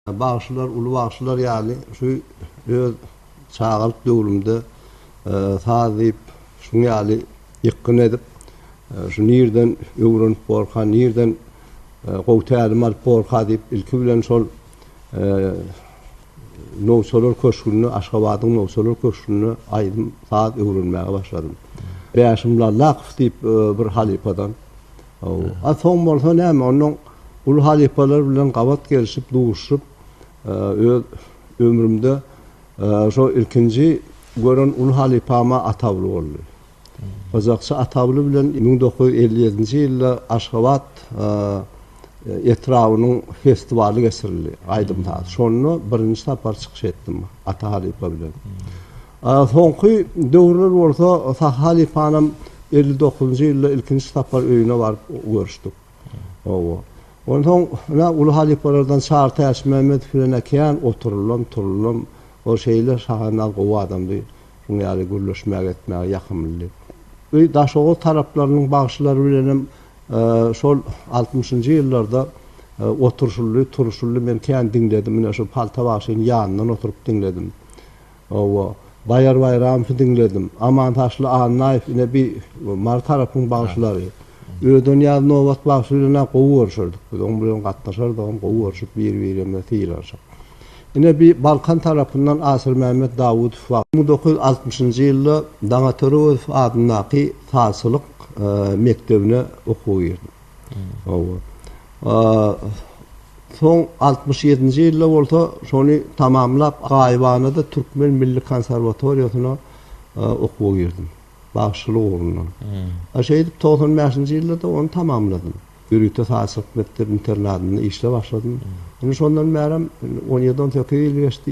Bagşylar, uly bagşylar ýaly şu öz çagalyk döwrümde saz diýip, şuň ýaly ýykgyn edip, şu nirden öwrenip borka, nirden gowy tälim alyp borka diýip, ilki bilen şol Nowçalar köşgünde, Aşgabadyň Nowçalar köşgünde aýdym-saz öwrenmäge başladym. Bäşim Lallakow diýip bir halypadan. A soň bolsa näme, onnoň uly halypalar bilen gabat gelşip, duşup, öz ömrümde şo ilkinji gören uly halypama Atawly boldy. Gyjakçy Atawly bilen müň dokuz ýüz elli ýedinji ýylda Aşgabat etrabynyň festiwaly geçirildi, aýdym-saz. Şonda birinji sapar çykyş etdim Ata halypa bilen. Soňky döwürler bolsa Sahy halypanam elli dokuzynjy ýylda ilkinji sapar öýüne baryp görüşdik. Hawa. Onsoň ine uly halypalardan Çary Täçmämmedow bilen ekän oturyldym, turuldym. Ol şeýle şahandaz gowy adamdy. Şuň ýaly gürleşmäge etmäge ýakymlydy. Bu Daşoguz taraplarynyň bagşylary bilenem şol altmyşynjy ýyllarda oturşyldy, turuşyldy. Men kän diňledim. Ine şu Palta bagşynyň ýanyndan oturyp diňledim. Hawa, Baýar Baýramowy diňledim. Amantaşly Annaýew ine bi Mary tarapyň bagşylary. Ödenýaz Nobat bagşy bilen-ä gowy görşerdik biz. Oň bilen gatnaşardygam, gowy görşüp bir-birimize sylanşyp. Ine bi Balkan tarapyndan Asyrmämmet Dawudow bar. Müň dokuz ýüz altmyşynjy ýylda Daňat Töregezow adyndaky sazçylyk mekdebine okuwa girdim. Hawa. Soň altmyş ýedinji ýylda bolsa şony tamamlap, Gaýybanada Türkmen milli konserwatoriýasyna okuwa girdim. Bagşylyk ugrundan. A şeýdip togsan bäşinji ýylda-da ony tamamladym. Ýörite sazçylyk mekdep-internadynda işle başladym. Indi şondan bärem on ýedi-on sekiz ýyl geçdi.